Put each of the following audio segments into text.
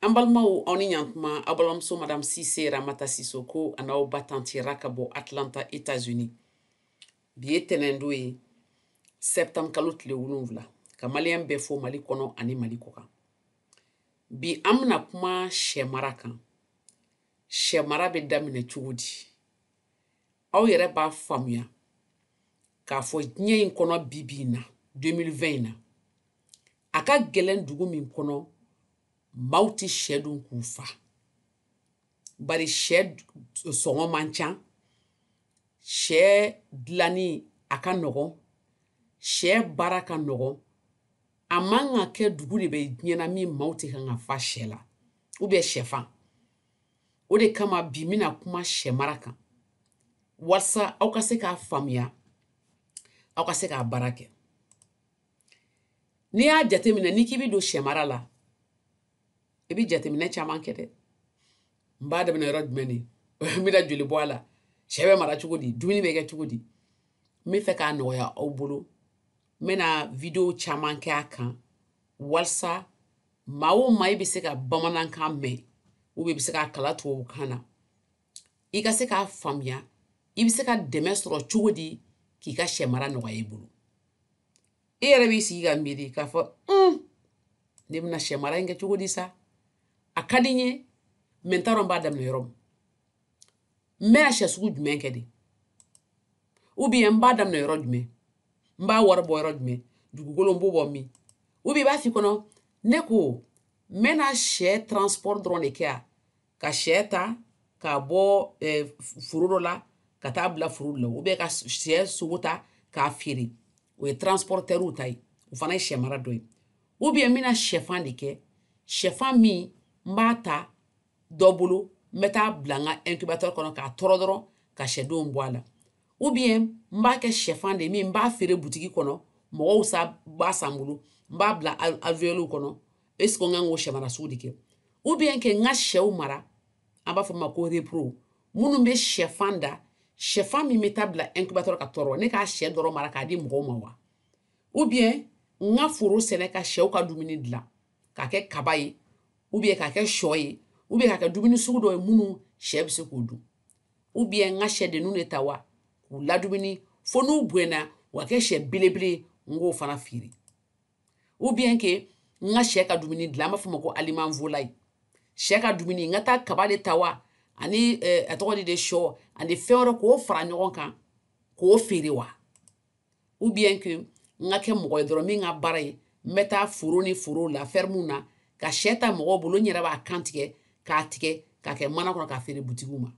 an balimaw aw ni ɲantuma aw balimamuso madam sise ramata sisoko an'aw ba tanti ra ka bɔ atlanta etats unis bi ye tɛnɛndo ye septembre kalo tile wolonwula ka maliyɛn bɛɛ fo mali kɔnɔ ani mali kɔ kan bi an bɛna kuma sɛmara kan sɛmara bɛ daminɛ cogo di aw yɛrɛ b'a faamuya k'a fɔ diɲɛ in kɔnɔ bi bi in na 2020 in na a ka gɛlɛn dugu min kɔnɔ maaw tɛ sɛ dun k'u fa bari sɛ sɔngɔ man ca sɛ dilanni a ka nɔgɔn sɛ baara ka nɔgɔn a man ka kɛ dugu de bɛ diɲɛ na min maaw tɛ kan ka fa sɛ la ou bien sɛfan o de kama bi n bɛna kuma sɛmara kan walasa aw ka se k'a faamuya aw ka se k'a baara kɛ n'i y'a jateminɛ n'i k'i bɛ don sɛmara la i bɛ jateminɛ caman kɛ dɛ n b'a daminɛ yɔrɔ jumɛn de n bɛna joli bɔ a la sɛ bɛ mara cogo di dumuni bɛ kɛ cogo di n bɛ fɛ k'a nɔgɔya aw bolo n bɛna video caman kɛ a kan walasa maa o maa i bɛ se ka bamanankan mɛn ou bien i bɛ se k'a kalan tubabukan na i ka se k'a faamuya i bɛ se ka dɛmɛ sɔrɔ cogo di k'i ka sɛ mara nɔgɔya i bolo i yɛrɛ b'i sigi ka miiri k'a fɔ un ne bɛna sɛ mara in kɛ cogo di sa a ka di n ye mɛ n t'a dɔn n b'a daminɛ yɔrɔ min n bɛna sɛ sugu jumɛn kɛ de ou bien n b'a daminɛ yɔrɔ jumɛn n b'a wari bɔ yɔrɔ jumɛn dugukolo n b'o bɔ min ou bien i b'a f'i kɔnɔ ne ko n bɛna sɛ transport dɔrɔn de kɛ wa ka sɛ ta k'a bɔ eh, foro dɔ la ka taa bila foro dɔ la ou bien ka sɛ sogo ta k'a feere o ye transportɛriw ta ye o fana ye sɛ mara dɔ ye ou bien n bɛna sɛfan de kɛ sɛfan min n b'a ta dɔ bolo n bɛ taa bila n ka incubateur kɔnɔ k'a tɔrɔ dɔrɔn ka sɛdenw bɔ a la ou bien n b'a kɛ sɛfan de min n b'a feere butigi kɔnɔ mɔgɔw sa b'a san n bolo n b'a bila alvéoles kɔnɔ est ce que n kan k'o sɛmara sugu de kɛ ou bien kɛ n ka sɛw mara an b'a fɔ ma ko repro minnu bɛ sɛfan da sɛfan min bɛ taa bila incubateur ka tɔrɔ ne k'a sɛ dɔrɔn mara k'a di mɔgɔw ma wa ou bien n ka foro sɛnɛ ka sɛw ka dumuni dilan ka kɛ kaba ye ou bien ka kɛ shɔ ye ou bien ka kɛ dumuni sugu dɔ ye minnu sɛ bɛ se k'u dun ou bien n ka sɛdenw de ta wa k'u ladumuni fo n'u bɛna wa kɛ sɛ belebele n k'o fana feere ou bien kɛ n ka sɛ ka dumuni dilan an b'a fɔ ma ko aliment volaille sɛ ka dumuni n ka taa kaba de ta wa ani eh, a tɔgɔ di dɛ shɔ ani fɛn wɛrɛ k'o fara ɲɔgɔn kan k'o feere wa ou bien kɛ n ka kɛ mɔgɔ ye dɔrɔn min ka baara ye n bɛ taa foro ni foro la fɛrɛmu na ka sɛ ta mɔgɔ bolo n yɛrɛ b'a kan tigɛ k'a tigɛ k'a kɛ mana kɔnɔ k'a feere butigiw ma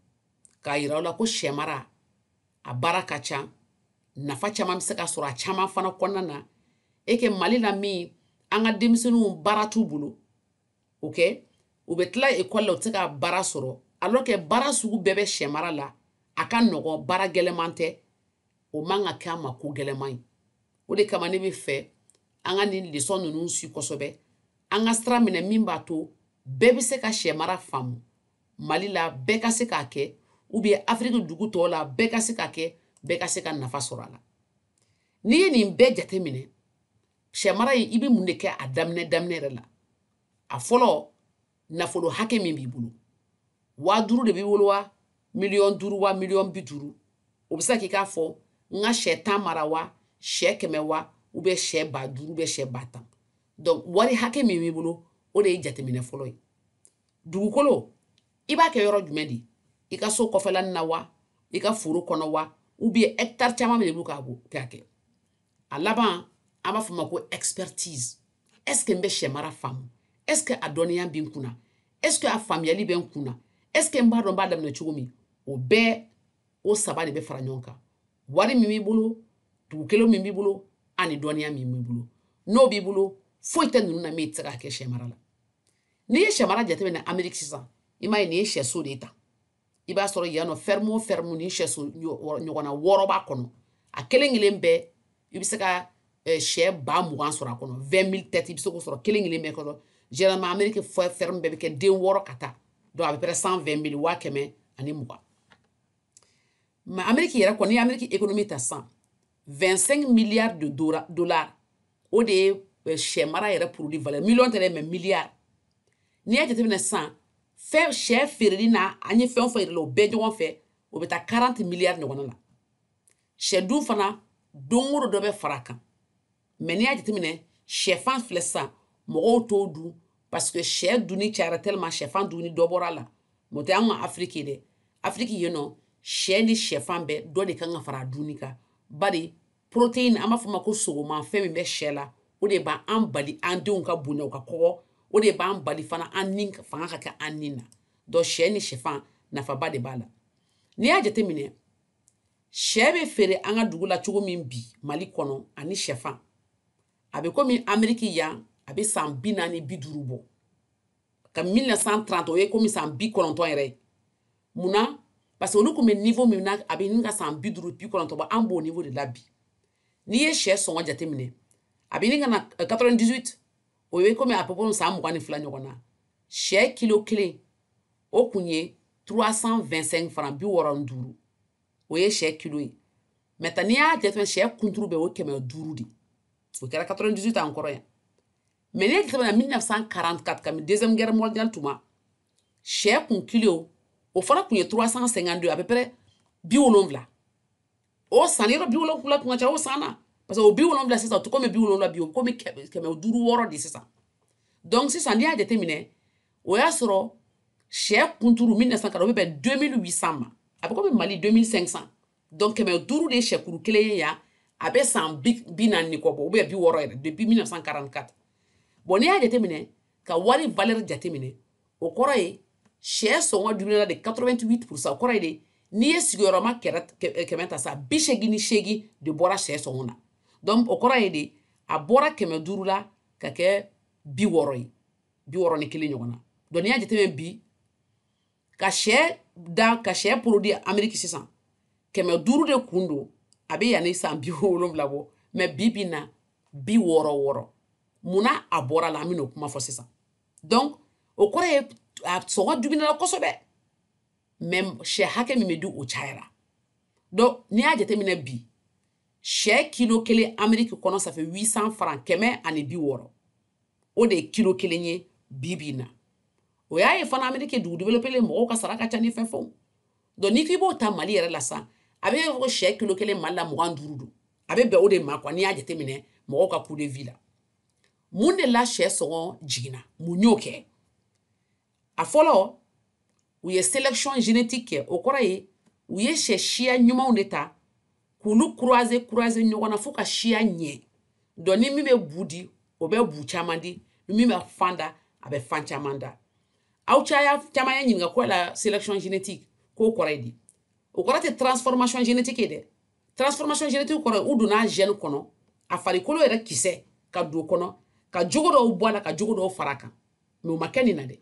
k'a yira u la ko sɛ mara a baara ka ca nafa caman bɛ se ka sɔrɔ a caman fana kɔnɔna na e kɛ mali la min an ka denmisɛnninw baara t'u bolo ok u bɛ tila ekɔli la u tɛ se ka baara sɔrɔ alors que baara sugu bɛɛ bɛ sɛ mara la a ka nɔgɔn baara gɛlɛman tɛ o man ka kɛ an ma ko gɛlɛman ye o de kama ne b'a fɛ an ka nin lesɔn ninnu si kosɛbɛ an ka sira minɛ min b'a to bɛɛ bɛ se ka sɛ mara faamu mali la bɛɛ ka se k'a kɛ ou bien afiriki dugu tɔw la bɛɛ ka se k'a kɛ bɛɛ ka se ka nafa sɔrɔ a la n'i ye nin bɛɛ jate minɛ sɛ mara ye i bɛ mun de kɛ a daminɛ daminɛ yɛrɛ la a fɔlɔ nafolo hakɛ min b'i bolo waa duuru de b'i bolo wa miliyɔn duuru wa miliyɔn bi duuru o bɛ se k'i k'a fɔ n ka sɛ tan mara wa sɛ kɛmɛ wa ou bien sɛ ba duuru ou bien sɛ ba tan donc wari hakɛ min b'i bolo o de ye jateminɛ fɔlɔ ye dugukolo i b'a kɛ yɔrɔ jumɛn de i ka so kɔfɛlanin na wa i ka foro kɔnɔ wa ou bien hectare caman min de b'u k'a kɛ a laban an b'a fɔ o ma ko expertise est ce que n bɛ sɛ mara faamu est ce que a dɔnniya bɛ n kunna est ce que a faamuyali bɛ n kunna est ce que n b'a dɔn n b'a daminɛ cogo min o bɛɛ o saba de bɛ fara ɲɔgɔn kan wari min b'i bolo dugukolo min b'i bolo ani dɔnniya min b'i bolo n'o b'i bolo foyi tɛ ninnu na min tɛ se ka kɛ sɛ mara la n'i ye sɛ mara jateminɛ ameriki sisan i m'a ye nin ye sɛso de ye tan i b'a sɔrɔ yan nɔ fɛrɛmu o fɛrɛmu nin sɛso ɲɔgɔnna wɔɔrɔ b'a kɔnɔ a kelen kelen bɛɛ i bɛ se ka eh, sɛ ba mugan sɔrɔ a kɔnɔ vingt mille têtes i bɛ se k'o sɔrɔ kelen kelen bɛɛ kɔnɔ généralement amerique fɛrɛmu bɛɛ bɛ kɛ den wɔɔrɔ ka taa donc à peu près cent vingt mille waa kɛmɛ ani mugan mais amerique yɛrɛ kɔni amerique économie ta sisan 25 milliards de dollars o de ye eh, sɛ mara yɛrɛ produit valeur million tɛ dɛ mais milliard n'i y'a jateminɛ san fɛ sɛ feereli na an ye fɛn o fɛn yira a la o bɛɛ ɲɔgɔn fɛ o bɛ taa 40 milliards ɲɔgɔnna na sɛ dun fana don o don dɔ bɛ fara a kan mais n'i y'a jateminɛ shɛfan filɛ sisan mɔgɔw t'o dun parce que shɛ dunni cayara tellement shɛfan dunni dɔ bɔra a la mais o tɛ an ka afiriki dɛ afiriki yen nɔ shɛ ni shɛfan bɛɛ dɔ de kan ka fara a dunni kan bari protéine an b'a fɔ o ma ko sogoma fɛn min bɛ shɛ la o de b'an bali an denw ka bonya u ka kɔgɔ o de b'an bali fana an ni fanga ka kɛ an ni na donc shɛ ni shɛfan nafaba de b'a la n'i y'a jateminɛ sɛ bɛ feere an ka dugu la cogo min bi mali kɔnɔ ani sɛfan a bɛ komi ameriki yan a bɛ san bi naani bi duuru bɔ ka 1930 o ye komi san bi kɔnɔntɔn yɛrɛ ye mun na parce que olu tun bɛ niveau min na a bɛ ɲini ka san bi duuru bi kɔnɔntɔn bɔ an b'o niveau de la bi n'i ye sɛ sɔngɔ jateminɛ a bɛ ɲini ka na 98 euh, o ye komi à peu près san mugan ni fila ɲɔgɔn na sɛ kilo kelen o kun ye 325 francs bi wɔɔrɔ ni duuru o ye sɛ kilo ye maintenant n'i y'a jateminɛ sɛ kunturu bɛɛ o ye kɛmɛ duuru de o kɛra 98 an kɔrɔ yan mɛ n'i y'a jateminɛ 1944 kabini deuxième guerre mondiale tuma sɛ kun kilo o fana kun ye 352 à peu près bi wolonwula o san yɔrɔ bi wolonwula kun ka ca o san na parce que o bi wolonwula sisan o tɛ komi bi wolonwula bi o komi kɛmɛ duuru wɔɔrɔ de sisan donc sisan n'i y'a jateminɛ o y'a sɔrɔ sɛ kunturu 1940 o bɛ bɛn 2800 ma a bɛ komi mali 2500 donc kɛmɛ duuru de ye sɛkuru kelen ye yan a bɛ san bi naani ni kɔ bɔ ou bien bi wɔɔrɔ yɛrɛ depuis 1944 bon n'i y'a jateminɛ ka wari valeur jateminɛ o kɔrɔ ye sɛ sɔngɔ diminuela de 88 pourcent o kɔrɔ ye de n'i ye sigiyɔrɔma kɛmɛ ta sa bi seegin ni seegin de bɔra sɛ sɔngɔ na donc o kɔrɔ ye de a bɔra kɛmɛ duuru la ka kɛ bi wɔɔrɔ ye bi wɔɔrɔ ni kelen ɲɔgɔn na donc n'i y'a jateminɛ bi ka sɛ da ka sɛ produit ameriki sisan kɛmɛ duuru de kun don a bɛ yanni san bi wolonwula bɔ mɛ bi bi na bi wɔɔrɔ wɔɔrɔ mun na a bɔra la an bɛn'o kuma fɔ sisan donc o kɔrɔ ye a sɔngɔ diminuela kosɛbɛ mɛ sɛ hakɛ min bɛ di o cayara donc n'i y'a jateminɛ bi sɛ kilo kelen ameriki kɔnɔ ça fait 800 francs kɛmɛ ani bi wɔɔrɔ o de ye kilo kelen ye bi bi na o y'a ye fana ameriki dugu developelen mɔgɔw ka sara ka ca ni fɛn fɛnw donc n'i k'i b'o ta mali yɛrɛ la sisan a bɛ fɔ ko sɛ kilo kelen mali la mugan ni duuru don a bɛ bɛn o de ma quoi n'i y'a jateminɛ mɔgɔw ka coût de vie la mun de la sɛ sɔngɔ jiginna mun y'o kɛ a fɔlɔ u ye selection génétique kɛ o kɔrɔ ye u ye sɛ siya ɲumanw de ta k'olu croiser croiser ɲɔgɔn na fo ka siya ɲɛ donc ni min bɛ bu di o bɛ bu caman di ni min bɛ fan da a bɛ fan caman da aw caya caman y'a ɲininka ko la selection génétique k'o kɔrɔ ye di o kɔrɔ tɛ transformation génétique ye dɛ transformation génétique kɔrɔ u donna gène kɔnɔ a farikolo yɛrɛ kisɛ ka don kɔnɔ ka jogo dɔw bɔ a la ka jogo dɔw fara a kan mais o ma kɛ nin na dɛ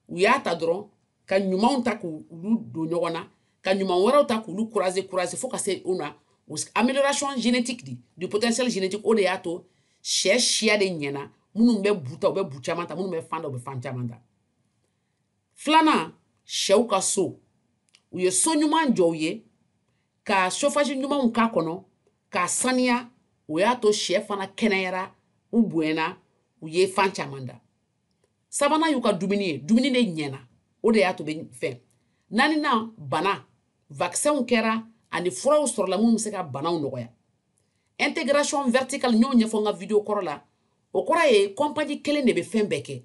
u y'a ta dɔrɔn ka ɲumanw ta k'olu don ɲɔgɔn na ka ɲuman wɛrɛw ta k'olu croiser croiser fo ka se une amélioration génétique di du potentiel génétique o de y'a to sɛ siya de ɲɛna minnu bɛ bu ta u bɛ bu caman ta minnu bɛ fan da u bɛ fan caman ta filanan sɛw ka so u ye so ɲuman jɔ u ye ka chauffage ɲumanw k'a kɔnɔ k'a saniya o y'a to sɛ fana kɛnɛyara u bonyana u ye fan caman da sabanan y'u ka dumuni ye dumuni de ɲɛna o de y'a to bɛ fɛn naaninan bana vaccinw kɛra ani furaw sɔrɔla minnu bɛ se ka banaw nɔgɔya intégration verticale n y'o ɲɛfɔ n ka video kɔrɔ la o kɔrɔ ye compagnie kelen de bɛ fɛn bɛɛ kɛ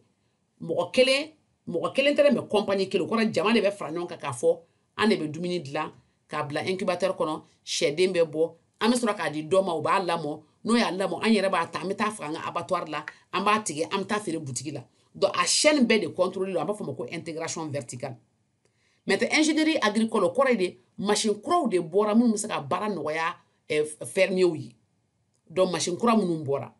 mɔgɔ kelen mɔgɔ kelen tɛ mais compagnie kelen o kɔrɔ jama de bɛ fara ɲɔgɔn kan k'a fɔ an de bɛ dumuni dilan k'a bila incubateur kɔnɔ sɛden bɛ bɔ an bɛ sɔrɔ k'a di dɔ ma o b'a lamɔ n'o y'a lamɔ an yɛrɛ b'a ta an bɛ taa faga an ka abattoir la an b'a tigɛ an bɛ taa feere butigi la donc a chaîne bɛɛ de contrôlé don an b'a fɔ ma ko intégration verticale maintenant ingénierie agricole o kɔrɔ ye de machine kuraw de bɔra minnu bɛ se ka baara nɔgɔya fermiers ye donc machine kura minnu bɔra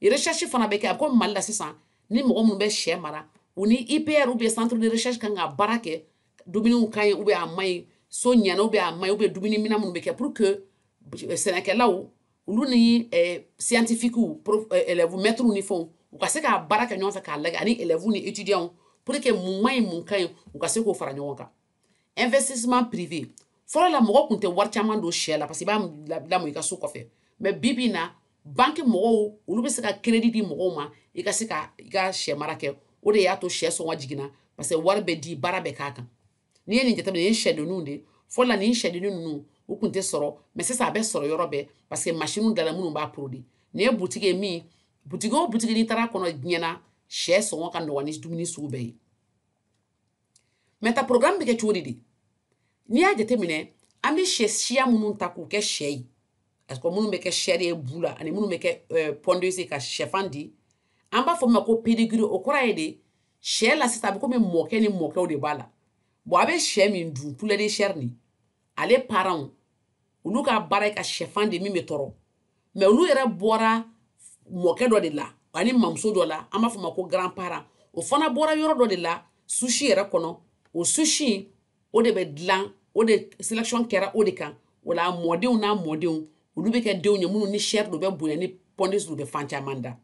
recherche fana bɛ kɛ a bɛ komi mali la sisan ni mɔgɔ minnu bɛ sɛ mara u ni ipr ou bien centre de recherche kan ka baara kɛ dumuniw ka ɲi ou bien a man ɲi so ɲɛna ou bien a man ɲi ou bien dumuni minɛn minnu bɛ kɛ pour que eh, sɛnɛkɛlaw olu ni eh, scientifiquew eh, élèves maîtres ni fɛnw u ka se ka baara kɛ ɲɔgɔn fɛ k'a lajɛ ani élèves ni étudiants pour que mun man ɲi mun ka ɲi u ka se k'o fara ɲɔgɔn kan investissement privé fɔlɔ la mɔgɔ tun tɛ wari caman don sɛ la parce que i b'a lamɔ i ka so kɔfɛ mais bi bi in na banki mɔgɔw olu bɛ se ka crédit di mɔgɔw ma i ka se ka i ka sɛ mara kɛ o de y'a to sɛ sɔngɔ jiginna parce que wari bɛ di baara bɛ k'a kan n'i ye nin jateminɛ nin ye sɛdenninw de fɔlɔ la nin sɛdennin ninnu u tun tɛ sɔrɔ mais sisan a bɛ sɔrɔ yɔrɔ bɛɛ parce que masiniw dala minnu b'a produit nin ye butigi ye min butigi o butigi n'i taara kɔnɔ diɲɛ na sɛ sɔngɔ ka nɔgɔn ni dumuni sugu bɛɛ ye maintenant programme bɛ kɛ cogo di de n'i y'a jateminɛ an bɛ sɛ siya minnu ta k'u kɛ sɛ ye parce que minnu bɛ kɛ chair ye bu la ani minnu bɛ kɛ euh, pondeuse ka sɛfan di an b'a fɔ min ma ko pedigree o kɔrɔ ye de sɛ la sisan a bɛ komi mɔkɛ ni mɔkɛw de b'a la bon a bɛ sɛ min dun poulet de chair nin ale parentw olu ka baara ye ka sɛfan da min bɛ tɔrɔ mais olu yɛrɛ bɔra mɔkɛ dɔ de la ani mamuso dɔ la an b'a fɔ ma ko grand parent o fana bɔra yɔrɔ dɔ de la souche yɛrɛ kɔnɔ o souche o de bɛ dilan o de sélection kɛra o de kan o la mɔdenw n'a mɔdenw olu bɛ kɛ denw ye minnu ni chair don bɛ bonya ni pondeuse don bɛ fan caman da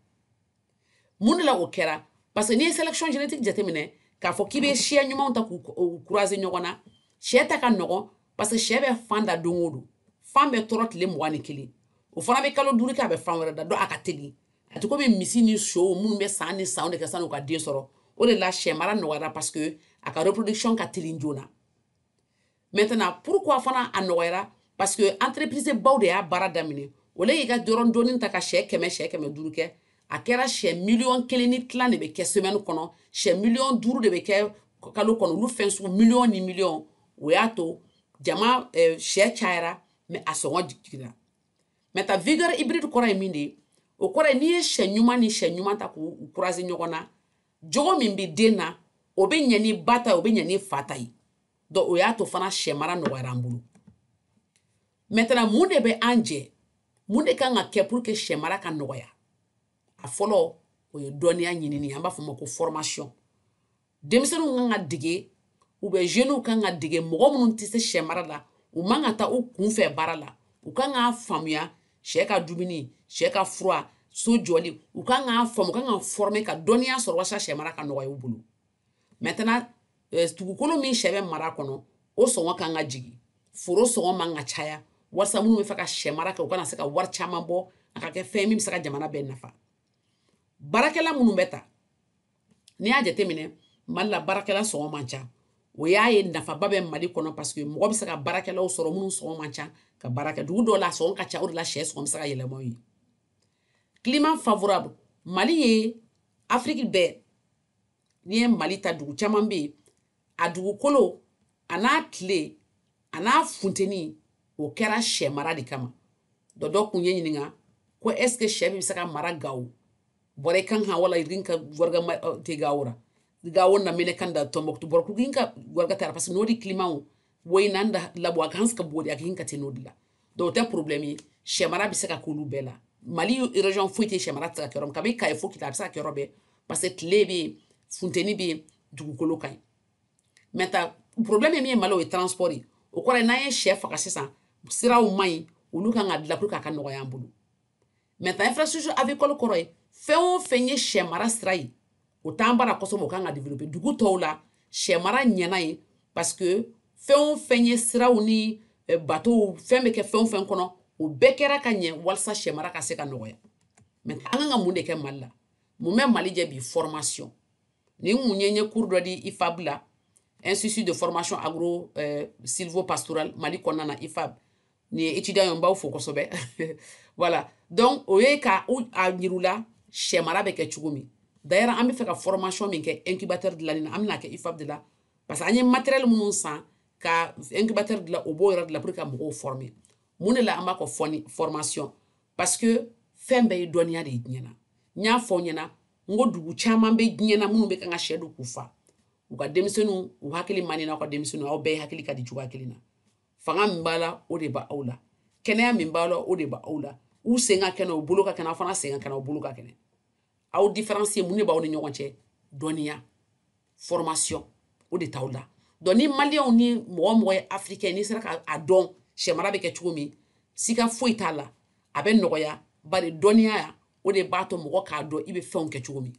mun de la o kɛra parce que n'i ye sélection génétique jateminɛ k'a fɔ k'i bɛ siya ɲumanw ta k'u croiser ɲɔgɔn na sɛ ta ka nɔgɔn parce que sɛ bɛ fan da don o don fan bɛ tɔrɔ tile mugan ni kelen o fana bɛ kalo duuru kɛ a bɛ fan wɛrɛ da donc a ka teli a tɛ komi misi ni sow minnu bɛ san ni sanw de kɛ san'u ka den sɔrɔ o de la sɛ mara nɔgɔyara parce que a ka reproduction ka teli joona maintenant pourquoi fana a nɔgɔyara parce que entreprise baw de y'a baara daminɛ o le y'i ka dɔrɔn dɔɔni ta ka sɛ kɛmɛ sɛ kɛmɛ duuru kɛ a kɛra sɛ miliyɔn kelen ni tila de bɛ kɛ semaine kɔnɔ sɛ miliyɔn duuru de bɛ kɛ kalo kɔnɔ olu fɛn sugu miliyɔn ni miliyɔn o y'a to jama eh, sɛ cayara mais a sɔngɔ jiginna maintenant vigueur hybride kɔrɔ ye min de ye o kɔrɔ ye n'i ye sɛ ɲuman ni sɛ ɲuman ta k'u croiser ɲɔgɔn na jogo min bɛ den na o bɛ ɲɛ ni ba ta ye o bɛ ɲɛ ni fa ta ye donc o y'a to fana sɛ mara nɔgɔyara an bolo maintenant mun de bɛ an jɛ mun de kan ka kɛ pour que sɛ mara ka nɔgɔya a fɔlɔ o ye dɔnniya ɲinini an b'a fɔ o ma ko formation denmisɛnninw kan ka dege ou bien jeunes kan ka dege mɔgɔ minnu tɛ se sɛ mara la u man ka taa u kunfɛ baara la u kan k'a faamuya sɛ ka dumuni sɛ ka fura so jɔli u kan k'a faamu u kan ka former ka dɔnniya sɔrɔ walasa sɛ mara ka nɔgɔya u bolo maintenant euh, dugukolo min sɛ bɛ mara kɔnɔ o sɔngɔ kan ka jigin foro sɔngɔ man ka caya walisa minnu bɛ fɛ ka sɛ mara kɛ u kana se ka wari caman bɔ a ka kɛ fɛn min bɛ se ka jamana bɛɛ nafa baarakɛla minnu bɛ ta n'i y'a jateminɛ mali la baarakɛla sɔngɔ man ca o y'a ye nafaba bɛ mali kɔnɔ parce que mɔgɔ bɛ se ka baarakɛlaw sɔrɔ minnu sɔngɔ man ca ka baara kɛ dugu dɔw la a sɔngɔ ka ca o de la sɛ sɔngɔ bɛ se ka yɛlɛma ye climat favorable mali ye afiriki bɛɛ n'i ye mali ta dugu caman bɛ yen a dugukolo a n'a tile a n'a funteni o kɛra sɛ mara de kama dɔ dɔ kun ye n ɲininka ko est ce que sɛ bɛ se ka mara gawo borey ga hãa wala ir hin ka warga te gawo ra gawo nda menaka nda tomboktu boro kul ga hin ka warga te a ra parce que nodi climat wo woyna nda labo a ga hanse ka bori a ga hin ka te nodi la donc o tɛ problème ye sɛmara bɛ se ka k'olu bɛɛ la mali région foyi tɛ sɛmara tɛ se ka kɛ yɔrɔ min kabi kaye fo kidal a bɛ se ka kɛ yɔrɔ bɛɛ parce que tile bɛ yen funteni bɛ yen dugukolo ka ɲi maintenant problème ye min ye mali o ye transport ye o kɔrɔ ye n'an ye sɛ faga sisan siraw man ɲi olu kan ka dilan pour que a ka nɔgɔya an bolo maintenant infrastructure avicole o kɔrɔ ye fɛn o fɛn ye sɛ mara sira ye o t'an bara kosɛbɛ o kan ka développer dugu tɔw la sɛ mara ɲɛna yen parce que fɛn o fɛn ye siraw ni eh, bato fɛn bɛ kɛ fɛn o fɛn kɔnɔ o bɛɛ kɛra ka ɲɛ walasa sɛ mara ka se ka nɔgɔya mais an kan ka mun de kɛ mali la mun bɛ mali jɛ bi formation nin mun ye n ye cours dɔ di ifab la institut de formation agro eh, sylvo pastoral mali kɔnɔna na ifab nin ye étudiant ye n b'aw fo kosɛbɛ voilà donc o ye ka a yir'u la sɛ mara bɛ kɛ cogo min d'ailleurs an bɛ fɛ ka formation min kɛ incubateur dilanni na an bɛn'a kɛ IFAB de la parce que an ye matériel minnu san ka incubateur dilan o b'o yɔrɔ de la pour que ka mɔgɔw former mun de la an b'a kɔ fɔni formation parce que fɛn bɛɛ ye dɔnniya de ye diɲɛ na n y'a fɔ ɲɛna n ko dugu caman bɛ diɲɛ na minnu bɛ kan ka sɛ dun k'u fa u ka denmisɛnninw u hakili man di n'aw ka denmisɛnninw aw bɛɛ hakili ka di cogoya kelen na fanga min b'a la o de b'aw la kɛnɛya min b'a la o de b'aw la u sen ka kɛnɛ u bolo ka kɛnɛ aw fana sen ka kɛnɛ u bolo ka kɛnɛ aw différence mun de b'aw ni ɲɔgɔn cɛ dɔnniya formation o de t'aw la donc ni maliyɛnw ni mɔgɔ o mɔgɔ ye africain n'i sera k'a dɔn sɛ mara bɛ kɛ cogo min sika foyi t'a la a bɛ nɔgɔya bari dɔnniya o de b'a to mɔgɔ k'a dɔn i bɛ fɛnw kɛ cogo min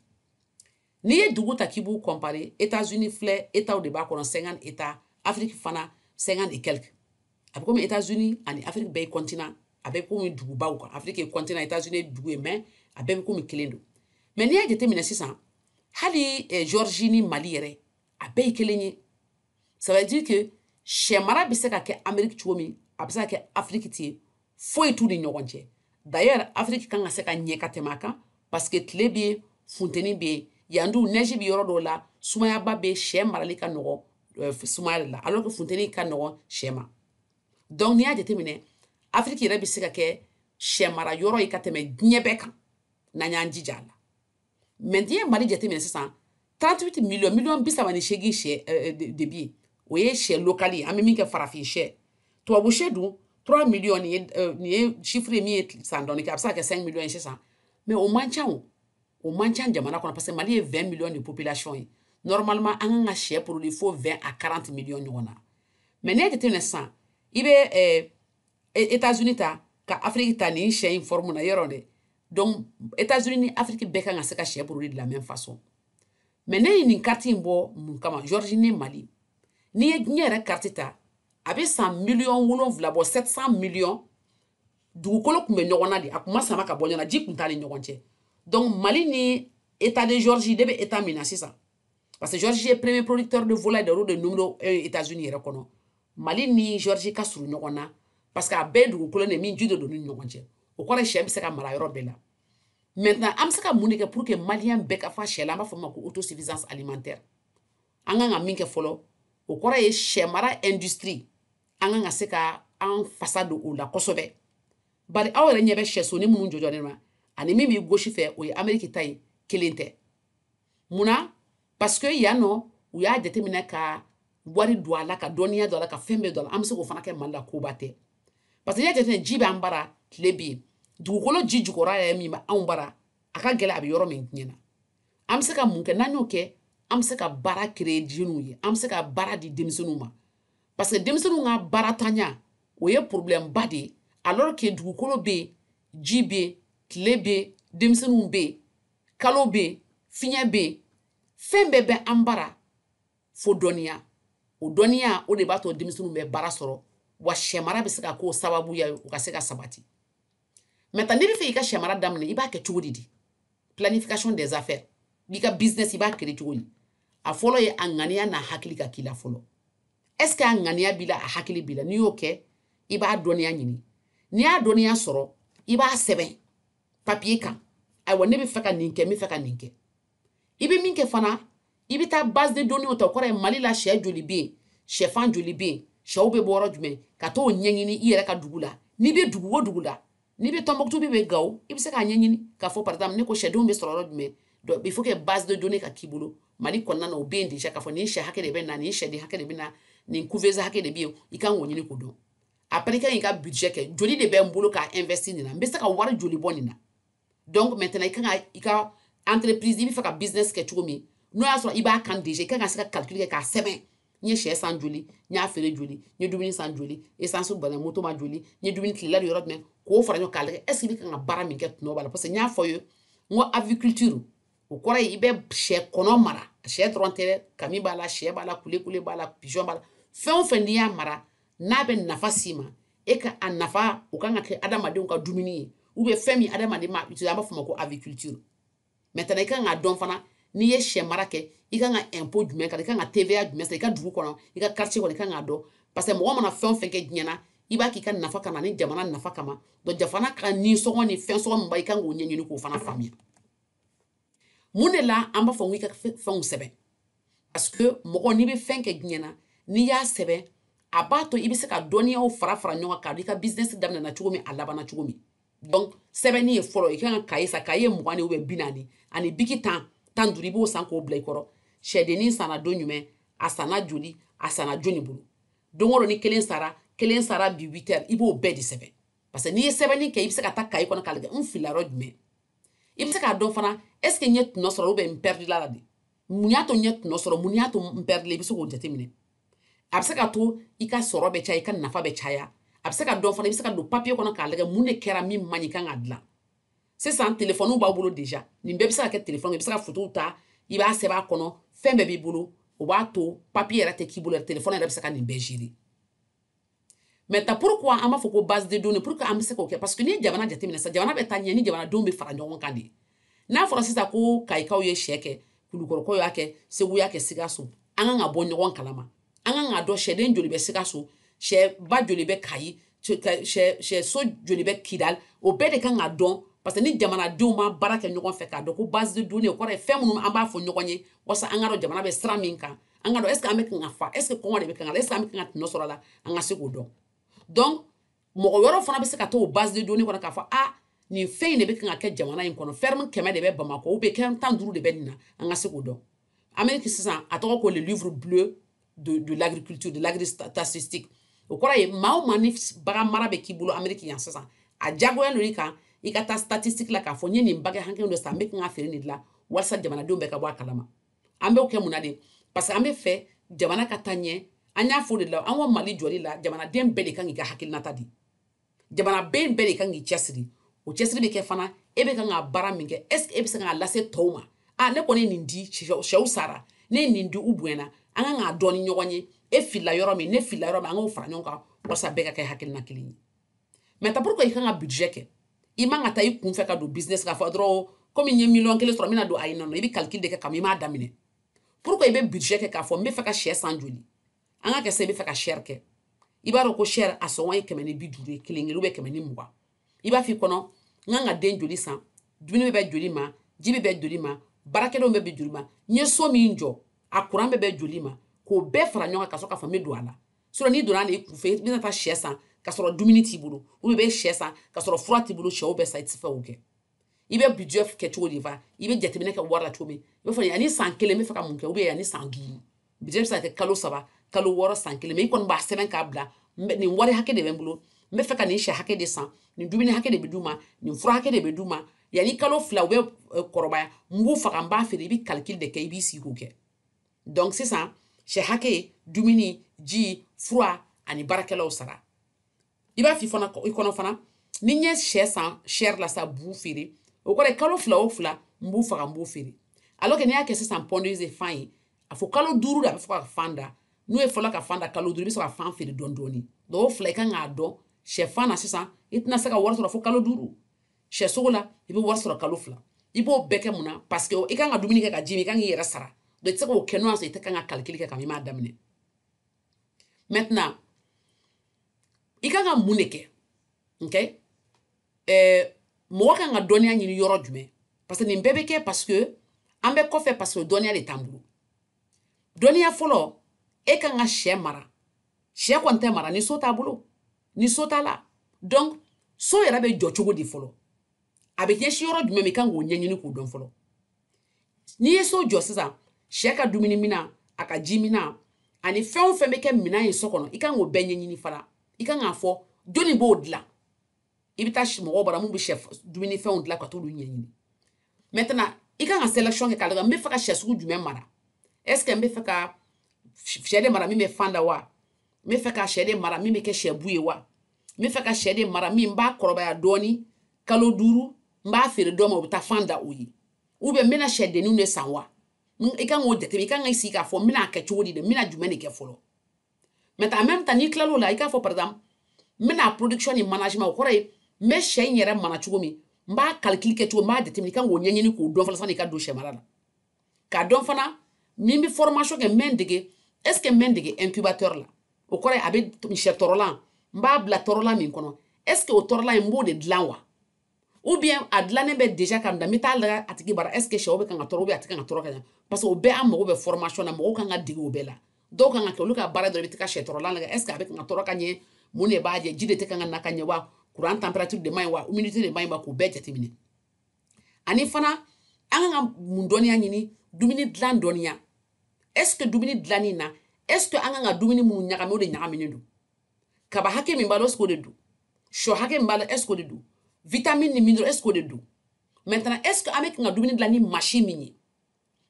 N'i ye dugu ta k'i b'u kɔnpre etazuni filɛ etaw de b'a kɔnɔ senkan e ta afiriki fana senkan de kɛlɛ a bɛ komi ez zoni ani afiri bɛɛ kɔntan a bɛ komi dugubaw kan afike kɔntan a taa zoni dugu ye mɛ a bɛɛ bɛ komi kelen don mɛ n'i y'a jateminɛ sisan hali zɔrizni mali yɛrɛ a bɛɛ ye kelen ye ça veut dire que sɛ mara bɛ se ka kɛ ameriki cogo min a bɛ se ka kɛ afiriki ten foyi t'u ni ɲɔgɔn cɛ d'ailleurs afiriki kan ka se ka ɲɛ ka tɛmɛ a kan parce que tile bɛ yen funteni bɛ yen yan dun neige bɛ yɔrɔ dɔw la sumayaba bɛ sɛ marali ka nɔgɔ euh, sumaya de la alors que funteni ka nɔgɔ sɛ ma donc n'i y'a jateminɛ afiriki yɛrɛ bɛ se ka kɛ sɛ mara yɔrɔ ye ka tɛmɛ diɲɛ bɛɛ kan n'an y'an jija a la mais n'i ye mali jateminɛ sisan 38 miliyɔn miliyɔn bi saba ni seegin sɛ eh, eh, de bɛ yen o ye sɛ local ye an bɛ min kɛ farafin sɛ tubabu sɛ dun 3 miliyɔn nin ye eh, nin ye chiffre ye min ye san dɔɔni kɛ a bɛ se ka kɛ 5 miliyɔn ye sisan mais o man ca o o man ca jamana kɔnɔ parce que mali ye 20 miliyɔn de population ye normalement an kan ka sɛ produit fo 20 à 40 miliyɔn ɲɔgɔn na mais n'i y'a jateminɛ sisan i bɛ États-Unis ta ka Afrique ta nin sɛ in forme na yɔrɔ dɛ donc États-Unis ni Afrique bɛɛ kan ka se ka sɛ produit de la même façon mais ne ye nin carte in bɔ mun kama Georgie ni Mali n'i ye diɲɛ yɛrɛ carte ta a bɛ san miliyɔn wolonwula bɔ 700 miliyɔn dugukolo tun bɛ ɲɔgɔn na de a tun ma sama ka bɔ ɲɔgɔn na ji tun t'a ni ɲɔgɔn cɛ donc Mali ni état de Georgie ne bɛ état min na sisan parce que Georgie ye premier producteur de volaille de de numéro 1 euh, États-Unis yɛrɛ kɔnɔ Mali ni Georgie ka surun ɲɔgɔn na parce que a bɛɛ dugukolo de min ji de don ni ɲɔgɔn cɛ o kɔrɔ ye sɛ bɛ se ka mara yɔrɔ bɛɛ la maintenant an bɛ se ka mun de kɛ pour que maliyɛn bɛɛ ka fa sɛ la an b'a fɔ o ma ko autosuffisance alimentaire an kan ka min kɛ fɔlɔ o kɔrɔ ye sɛ mara industrie an kan ka se ka an fasa don o la kosɛbɛ bari aw yɛrɛ ɲɛ bɛ sɛsonin minnu jɔjɔlen ma ani min b'i gauche fɛ o ye ameriki ta ye kelen tɛ munna parce que yan nɔ u y'a jateminɛ ka wari don a la ka dɔnniya don a la ka fɛn bɛɛ don a la an bɛ se k'o fana kɛ mali la koba tɛ parce que n'i y'a jateminɛ ji b'an bara tile bɛ yen dugukolo ji jukɔrɔ yɛrɛ min bɛ anw bara a ka gɛlɛn a bɛ yɔrɔ min tiɲɛna an bɛ se ka mun kɛ n'an y'o kɛ an bɛ se ka baara créer jeunes ye an bɛ se ka baara di denmisɛnninw ma parce que denmisɛnninw ka baarantanya o ye problème ba de ye alors que dugukolo bɛ yen ji bɛ yen tile bɛ yen denmisɛnninw bɛ yen kalo bɛ yen fiɲɛ bɛ yen fɛn bɛɛ bɛ an bara fo dɔnniya o dɔnniya o de b'a to denmisɛnninw bɛ baara sɔrɔ wa sɛmara bɛ se ka k'o sababuya ye u ka se ka sabati maintenant n'i bɛ fɛ i ka sɛmara daminɛ i b'a kɛ cogo di di planification des affaires n'i ka business i b'a créer cogo di a fɔlɔ ye a ŋaniya n'a hakili ka k'i la fɔlɔ est ce que a ŋaniya b'i la a hakili b'i la n'i y'o kɛ i b'a dɔnniya ɲini n'i y'a dɔnniya sɔrɔ i b'a sɛbɛn papiye kan ayiwa ne bɛ fɛ ka nin kɛ n bɛ fɛ ka nin kɛ i bɛ min kɛ fana i bɛ taa base de données ta o kɔrɔ ye mali la sɛ joli bɛ yen sɛfan joli bɛ yen sɛw bɛ bɔ yɔrɔ jumɛn ka t'o ɲɛɲini i yɛrɛ ka dugu la n'i bɛ dugu o dugu la n'i bɛ tɔnbɔkutu bɛ bɛ gawo i bɛ se k'a ɲɛɲini k'a fɔ par exemple ne ko sɛdenw bɛ sɔrɔ yɔrɔ jumɛn donc il faut que base de données ka k'i bolo mali kɔnɔna na o bɛ yen déjà k'a fɔ nin sɛ hakɛ de bɛ na nin sɛden hakɛ de bɛ na nin couveuse hakɛ de bɛ yen i kan k'o ɲini k'o dɔn après i kan k'i ka budget kɛ joli de bɛ n bolo k'a investir nin na n bɛ se ka wari joli bɔ nin na donc maintenant i kan ka i ka entreprise i bɛ fɛ ka business kɛ cogo min n'o y'a sɔrɔ i b'a kan déjà i kan ka se ka calcul kɛ k'a sɛbɛn n ye sɛ san joli n y'a feere joli n ye dumuni san joli essence banna moto ma joli n ye dumuni tilela dun yɔrɔ jumɛn k'o fara ɲɔgɔn k'a lajɛ est ce que i bɛ kan ka baara min kɛ tɔnɔ b'a la parce que n y'a fɔ ye n ko aviculture o kɔrɔ ye i bɛ sɛ kɔnɔ mara sɛ dɔrɔn tɛ dɛ kami b'a la sɛ b'a la kulekule b'a la pigeon b'a la fɛn o fɛn n'i y'a mara n'a bɛ nafa s'i ma e ka a nafa o kan ka kɛ adamadenw ka dumuni ye ou bien fɛn min adamaden b'a utiliser an b'a fɔ o ma ko aviculture maintenant i kan k'a dɔn fana n'i ye sɛ mara kɛ i kan ka impôt jumɛn k'a la i kan ka TVA jumɛn sara i ka dugu kɔnɔ i ka quartier kɔnɔ i kan k'a dɔn parce que mɔgɔ mana fɛn o fɛn kɛ diɲɛ na i b'a k'i ka nafa kama ni jamana nafa kama donc jamana ka ninsɔngɔ ni fɛn sɔngɔ min b'a i kan k'o ɲɛɲini k'o fana faamuya mun de la an b'a fɔ ko i ka fɛnw sɛbɛn parce que mɔgɔ n'i bɛ fɛn kɛ diɲɛ na n'i y'a sɛbɛn a b'a to i bɛ se ka dɔnniyaw fara fara ɲɔgɔn kan k'a dɔn i ka business daminɛna cogo min a labanna cogo min donc sɛbɛnni ye fɔlɔ i kan ka kaye san kaye mugan de ou bien bi naani ani biki tan tan duuru i b'o san k'o bila i kɔrɔ sɛdennin sanna don jumɛn a sanna joli a sanna jɔni bolo don o don ni kelen sara kelen sara bi huit heures i b'o bɛɛ de sɛbɛn parce que n'i ye sɛbɛnni kɛ i bɛ se ka taa kaye kɔnɔ k'a lajɛ n filila yɔrɔ jumɛn i bɛ se k'a dɔn fana est ce que n ye tɔnɔ sɔrɔ ubiyɛn n pɛridila la de mun y'a to n ye tɔnɔ sɔrɔ mun y'a to n pɛridila i bɛ se k'o jateminɛ a bɛ se ka to i ka sɔrɔ bɛ caya i ka nafa bɛ caya a bɛ se ka dɔn fana i bɛ se ka don papiye kɔnɔ k'a lajɛ mun de kɛra min man ɲi i kan k'a dilan sisan telefɔniw b'aw bolo deja nin bɛɛ bɛ se ka kɛ telefɔni i bɛ se ka fotow ta i b'a sɛbɛn a kɔnɔ fɛn bɛɛ b'i bolo o b'a to papiye yɛrɛ tɛ k'i bolo yɛrɛ telefɔni yɛrɛ bɛ se ka nin bɛɛ zere maintenant pourquoi an b'a fɔ ko base de données pourquoi an bɛ se k'o kɛ parce que n'i ye jamana jateminɛ sa jamana bɛ taa ɲɛ ni jamanadenw bɛ fara ɲɔgɔn kan de ye n'a fɔra sisan ko kayikaw ye sɛ kɛ kulukɔrɔkaw y'a kɛ segu y'a kɛ sikaso an kan ka bɔ ɲɔgɔn kalama an kan k'a dɔn sɛden joli bɛ sikaso sɛba joli bɛ kayi sɛso joli bɛ kidal o bɛɛ de kan ka dɔn parce que ni jamanadenw ma baara kɛ ɲɔgɔn fɛ k'a dɔn ko base de données o kɔrɔ ye fɛn minnu an b'a fɔ ɲɔgɔn ye walasa an ka dɔn jamana bɛ sira min kan an ka dɔn ɛseke an bɛ kan ka fa ɛseke kɔngɔ de bɛ kan ka na ɛseke an bɛ kan ka tɔnɔ sɔrɔ a la an ka se k'o dɔn donc mɔgɔ wɛrɛw fana bɛ se ka t'o base de données kɔnɔ k'a fɔ ah nin fɛn in de bɛ kan ka kɛ jamana in kɔnɔ ferme kɛmɛ de bɛ bamakɔ ou bien kɛmɛ tan duuru de bɛ nin na an ka se k'o dɔn ameriki sisan a tɔgɔ ko le livre bleu de, de l'agriculture de l'agristatistique o kɔrɔ ye maa o maa ni bagan mara bɛ k'i bolo ameriki yan sisan a diyagoya don i kan i ka taa statistique la k'a fɔ n ye nin bagan hakɛ dɔ san n bɛ kan ka feere nin de la walasa jamanadenw bɛɛ ka bɔ a kalama an b'o kɛ mun na de parce que an bɛ fɛ jamana ka taa ɲɛ an y'a fɔ de la an ka mali jɔli la jamanaden bɛɛ de kan k'i ka hakilinata di jamanaden bɛɛ de kan k'i cɛsiri o cɛsiri bɛ kɛ fana e bɛ kan ka baara min kɛ est ce que e bɛ se k'a lase tɔw ma a ne kɔni ye nin di sɛw sara ne ye nin di u bonyana an kan k'a dɔn ni ɲɔgɔn ye e filila yɔrɔ min ne filila yɔrɔ min an k'o fara ɲɔgɔn kan walasa bɛɛ ka kɛ hakilina kelen ye maintenant pourquoi i kan ka budget kɛ i man ka taa i kunfɛ ka don business k'a fɔ dɔrɔn komi n ye miliyɔn kelen sɔrɔ n bɛna don ayi nɔ i bɛ calcul de kɛ kama i m'a daminɛ pourquoi i bɛ budget kɛ k'a fɔ n bɛ fɛ ka sɛ san joli an k'a kɛ sɛ i bɛ fɛ ka chair kɛ i b'a dɔn ko chair a sɔngɔ ye kɛmɛ ni bi duuru ye kelen kelen ubiyɛn kɛmɛ ni mugan i b'a f'i kɔnɔ n kan ka den joli san dumuni bɛ bɛn joli ma ji bɛ bɛn joli ma baarakɛdenw bɛ bɛn joli ma n ye so min jɔ a kuran bɛ bɛn joli ma k'o bɛɛ fara ɲɔgɔn kan ka sɔrɔ k'a fɔ n bɛ don a la sinon n'i donna i kunfɛ i bɛna taa sɛ san ka sɔrɔ dumuni t'i bolo ubiyɛn sɛ san ka sɔrɔ fura t'i bolo sɛw bɛɛ sa i tɛ se ka o kɛ i bɛ budget kɛ cogo di fa i bɛ jateminɛ kɛ wari la cogo min i b'a fɔ yanni san kelen n bɛ fɛ ka mun kɛ ubiyɛn yanni san duuru budget bɛ se ka kɛ kalo saba kalo wɔɔrɔ san kelen mɛ i kɔni b'a sɛbɛn k'a bila nin wari hakɛ de bɛ n bolo n bɛ fɛ ka nin sɛ hakɛ de san nin dumuni hakɛ de bɛ d'u ma nin fura hakɛ de bɛ d'u ma yanni kalo fila u bɛ kɔrɔbaya n b'u faga n b'a feere i bɛ kalikili de kɛ i b'i sigi k'o kɛ donc sisan sɛ hakɛ dumuni ji fura ani baarakɛlaw sara i b'a fɔ fana i kɔnɔ fana ni n ye sɛ san sɛri la sa b'u feere o kɔrɔ kalo fila o fila n b'u faga n b'o feere alors que n'i y'a kɛ sisan pondeuse ye fan ye a fɔ kalo duuru de a bɛ fɔlɔ ka fan da n'u ye fɔlɔ ka fan da kalo duuru i bɛ sɔrɔ ka fan feere dɔɔni dɔɔni donc o fila i kan k'a dɔn sɛfan na sisan i tɛna se ka wari sɔrɔ fo kalo duuru sɛsogo la i bɛ wari sɔrɔ kalo fila i b'o bɛɛ kɛ mun na parce que i kan ka dumuni kɛ ka ji min i kan k'i yɛrɛ sara donc i tɛ se k'o kɛ n'o y'a sɔrɔ i tɛ kan ka kalikili kɛ kabini i m'a daminɛ maintenant i kan ka mun de kɛ ok ɛɛ eh, mɔgɔ kan ka dɔnniya ɲini yɔrɔ jumɛn parce que nin bɛɛ bɛ kɛ parce que an bɛ kɔfɛ parce que dɔnniya de t'an bolo dɔnniya fɔlɔ e kan ka sɛ mara sɛ kɔni tɛ mara ni so t'a bolo ni so t'a la donc so yɛrɛ bɛ jɔ cogo di fɔlɔ a bɛ ɲɛsin yɔrɔ jumɛn ma i kan k'o ɲɛɲini k'o dɔn fɔlɔ n'i ye so jɔ sisan sɛ ka dumuni minan a ka ji minan ani fɛn o fɛn bɛ kɛ minan ye so kɔnɔ i kan k'o bɛɛ ɲɛɲini fana i kan k'a fɔ jɔnni b'o dilan i bɛ taa mɔgɔw bara mun bɛ sɛ dumuni fɛnw dilan ka t'olu ɲɛɲini maintenant i kan ka selection kɛ k'a lajɛ n bɛ fɛ ka sɛ sugu jumɛn mara est ce que n bɛ fɛ ka sɛ de mara min bɛ fan da wa n bɛ fɛ ka sɛ de mara min bɛ kɛ sɛbu ye wa n bɛ fɛ ka sɛ de mara min b'a kɔrɔbaya dɔɔni kalo duuru n b'a feere dɔ ma o bɛ taa fan da o ye ou bien n bɛna sɛdenninw de san wa i kan k'o jateminɛ i kan k'i sigi k'a fɔ n bɛna kɛ cogo di de n bɛna jumɛn de kɛ fɔlɔ maintenant maintenant n'i tilal'o la i k'a fɔ par exemple n bɛna production ni management o kɔrɔ ye n bɛ sɛ in yɛrɛ mara cogo min n b'a kalikili kɛ cogo n b'a jateminɛ i kan k'o ɲɛɲini k'o dɔn fɔlɔ san'i ka don sɛ mara la k'a dɔn fana min bɛ formation kɛ n bɛ n dege est ce que n bɛ n dege incubateur la o kɔrɔ ye a bɛ sɛ tɔrɔlan n b'a bila tɔrɔlan min kɔnɔ est ce que o tɔrɔlan in n b'o de dilan wa ou bien a dilannen bɛ déjà ka bila n bɛ taa lajɛ a tigi bara est ce que sɛw bɛ kan ka tɔrɔ ou bien a tɛ kan ka tɔrɔ ka ɲɛ parce que o bɛɛ an mago bɛ formation na mɔgɔw kan ka dege o bɛɛ la dɔw kan ka kɛ olu ka baara dɔrɔn i bɛ taa sɛ tɔrɔlan lajɛ est ce que a bɛ kan ka tɔrɔ ka ɲɛ mun de b'a jɛ ji de tɛ kan ka na ka ɲɛ wa kuran température de man ɲi wa humidité de man ɲi wa k'o bɛɛ jateminɛ ani fana an kan ka mun dɔnniya ɲini dumuni dilan dɔnniya est ce que dumuni dilanni na est ce que an kan ka dumuni minnu ɲagami o de ɲagaminen don kaba hakɛ min b'a la est ce que o de don sɔ hakɛ min b'a la est ce que o de don vitamini ni mineral est ce que o de don maintenant est ce que an bɛ kan ka dumuni dilan ni machine min ye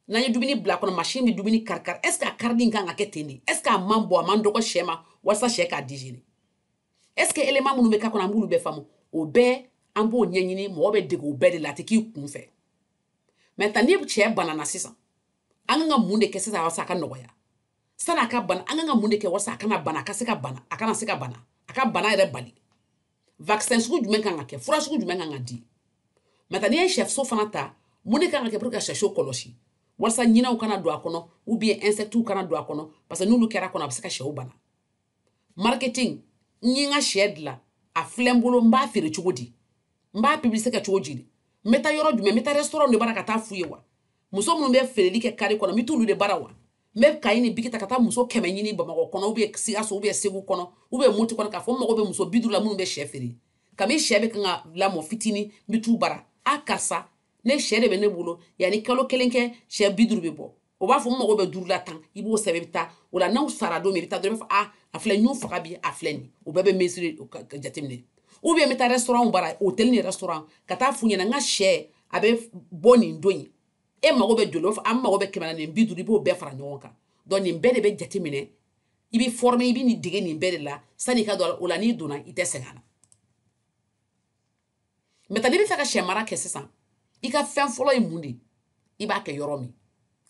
n'an ye dumuni bila kɔnɔ machine bɛ dumuni karikari est ce que a karili kan ka kɛ ten de est ce que a man bon a man dɔgɔ sɛ ma walasa sɛ k'a digérer est ce que élément minnu bɛ k'a kɔnɔ an b'olu bɛɛ faamu o bɛɛ an b'o ɲɛɲini mɔgɔ bɛ dege o bɛɛ de la a tɛ k'i kun fɛ maintenant ni sɛ banana sisan an kan ka mun de kɛ sisan walasa a ka nɔgɔya sani a ka bana an kan ka mun de kɛ walasa a kana bana a ka se ka bana a kana se ka bana a ka bana yɛrɛ bali vaccin sugu jumɛn kan ka kɛ fura sugu jumɛn kan ka di maintenant n'i ye sɛso fana ta mun de kan ka kɛ pour que ka sɛso kɔlɔsi walasa ɲinɛw kana don a kɔnɔ ou bien insectes kana don a kɔnɔ parce que n'olu kɛra kɔnɔ a bɛ se ka sɛw bana marketing n ye n ka sɛ dilan a filɛ n bolo n b'a feere cogo di n b'a publicité kɛ cogo di n bɛ taa yɔrɔ jumɛn n bɛ taa restaurant de bara ka taa f'u ye wa muso minnu bɛ feereli kɛ kari kɔnɔ n bɛ t'olu de bara wa n bɛ kayi ni biki ta ka taa muso kɛmɛ ɲini bamakɔ kɔnɔ ou bien sikaso ou bien segu kɔnɔ ou bien moti kɔnɔ k'a fɔ n mago bɛ muso bi duuru la minnu bɛ sɛ feere kabi sɛ bɛ kan ka lamɔ fitini n bɛ t'u bara a karisa ne sɛ de bɛ ne bolo yanni kalo kelen kɛ sɛ bi duuru bɛ bɔ o b'a fɔ n mago bɛ duuru la tan i b'o sɛbɛn i bɛ taa o la n'aw sara don min i bɛ taa dɔrɔn i b'a fɔ a a filɛ n y'o faga bi a filɛ nin o bɛɛ bɛ mesure ka jateminɛ ou bien n bɛ taa restaurant bara hôtel ni restaurant ka taa f'u ɲɛna n ka sɛ a bɛ bɔ nin don in e mago bɛ joli fɔ an mago bɛ kɛmɛ na ni bi duuru i b'o bɛɛ fara ɲɔgɔn kan donc nin bɛɛ de bɛ jateminɛ i bɛ former i bɛ nin dege nin bɛɛ de la sani i ka don o la n'i donna i tɛ sɛgɛn a la maintenant n'i bɛ fɛ ka sɛ mara kɛ sisan i ka fɛn fɔlɔ ye mun de ye i b'a kɛ yɔrɔ min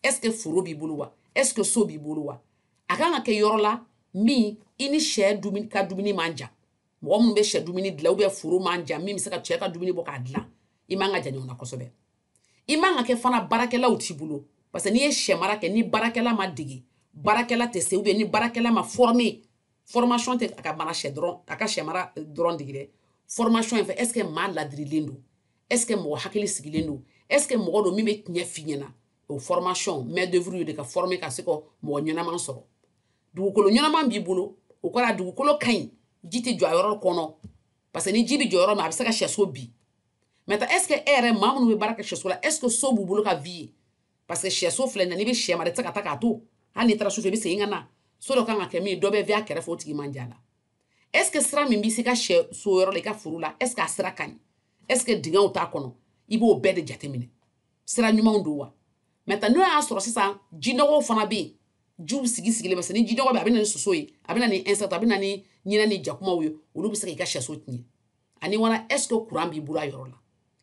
est ce que foro b'i bolo wa est ce que so b'i bolo wa a kan ka kɛ yɔrɔ la min i ni sɛ dumuni ka dumuni man jan mɔgɔ minnu bɛ sɛ dumuni dilan ou bien foro man jan min bɛ se ka sɛ ka dumuni bɔ k'a dilan i man ka jan ɲɔgɔn na kosɛbɛ i man ka kɛ fana baarakɛlaw t'i bolo parce que n'i ye sɛmara kɛ ni baarakɛla ma dege baarakɛla tɛ se ou bien ni baarakɛla ma former formation tɛ a ka mara sɛ dɔrɔn a ka sɛmara eh, dɔrɔn dege dɛ formation in fɛ est ce que maa ladirilen don est ce que mɔgɔ hakili sigilen don est ce que mɔgɔ don min bɛ tiɲɛ f'i ɲɛna o formation main d'œuvre de ka former ka se ka mɔgɔ ɲɛnaman sɔrɔ dugukolo ɲɛnaman b'i bolo o kɔrɔ a dugukolo ka ɲi ji tɛ jɔ a yɔrɔ kɔnɔ parce que ni ji bɛ jɔ yɔrɔ min a bɛ se ka sɛso bin maintenant est ce que e yɛrɛ maa minnu bɛ baara kɛ sɛso la est ce que so b'u bolo ka vie yen parce que sɛso filɛ nin ye n'i bɛ sɛ mara i tɛ se ka taa k'a to hali n'i taara sufɛ i bɛ segin ka na so dɔ kan ka kɛ min dɔ bɛ vie a kɛrɛfɛ o tigi man jan la est ce que sira min bɛ se ka sɛso yɔrɔ la i ka foro la est ce que a sira ka ɲi est ce que dingɛw t'a kɔnɔ i b'o bɛɛ de jateminɛ sira ɲumanw don wa maintenant n'o y'a sɔrɔ sisan jinɔgɔw fana bɛ yen jiw sigi sigilen parce que ni jinɔgɔ bɛ a bɛ na ni soso ye a bɛ na ni insecte a bɛ na ni ɲinɛ ni jakumaw ye olu bɛ se k'i ka sɛso tiɲɛ ani wala est ce que kuran b'i bolo a yɔrɔ la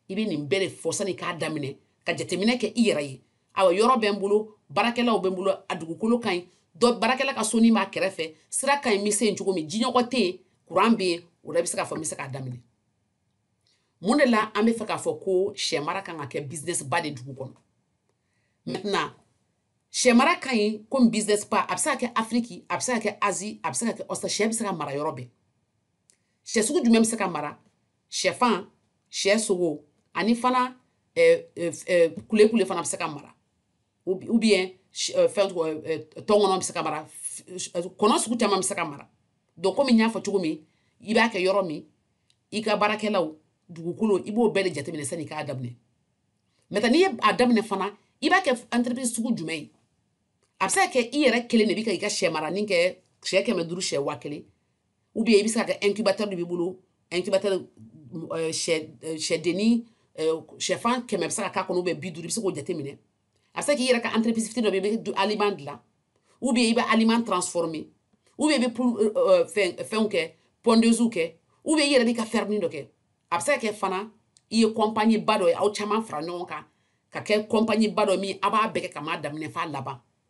i bɛ nin bɛɛ de fɔ sani k'a daminɛ ka jateminɛ kɛ i yɛrɛ ye awa yɔrɔ bɛ n bolo baarakɛlaw bɛ n bolo a dugukolo ka ɲi dɔ baarakɛla ka soni b'a kɛrɛfɛ sira ka ɲi n bɛ se yen cogo min jinɔgɔ tɛ yen kuran bɛ yen o la i bɛ se k'a fɔ n bɛ se k'a daminɛ mun de la an bɛ fɛ k'a fɔ ko sɛ mara kan ka kɛ business ba de dugu kɔnɔ maintenant sɛ mara ka ɲi komi business ba a bɛ se ka kɛ afiriki a bɛ se ka kɛ azi a bɛ se ka kɛ ɔsitarali sɛ bɛ se ka mara yɔrɔ bɛɛ sɛ sugu jumɛn bɛ se ka mara sɛfan sɛ sogo ani fana eh, eh, eh, kule kule fana bɛ se ka mara ou bien fɛn tɔnkɔnɔ bɛ se ka mara kɔnɔ sugu caman bɛ se ka mara donc komi n y'a fɔ cogo min i b'a kɛ yɔrɔ min i ka baarakɛlaw dugukolo i b'o bɛɛ de jateminɛ sani i k'a daminɛ maintenant n'i ye a daminɛ fana i b'a kɛ entreprise sugu jumɛn ye a bɛ se ka kɛ i yɛrɛ kelen de bɛ ka i ka sɛ maranin kɛ sɛ kɛmɛ duuru sɛ waa kelen ou bien i bɛ se ka kɛ incubateur de b'i bolo incubateur euh, sɛ euh, sɛdennin euh, sɛfan kɛmɛ bɛ se ka k'a kɔnɔ ou bien bi duuru i bɛ se k'o jateminɛ a bɛ se k'i yɛrɛ ka entreprise fitini dɔ bɛ yen i bɛ aliment dilan ou bien i bɛ aliment transformer ou bien i bɛ fɛn fɛnw kɛ pondeuse kɛ ou bien i yɛrɛ b'i ka ferme dɔ kɛ a bɛ se ka kɛ fana i ye compagnie ba dɔ ye aw caman fara ɲɔgɔn kan ka kɛ compagnie ba dɔ min a b'a bɛɛ kɛ ka m'a daminɛ f'a laban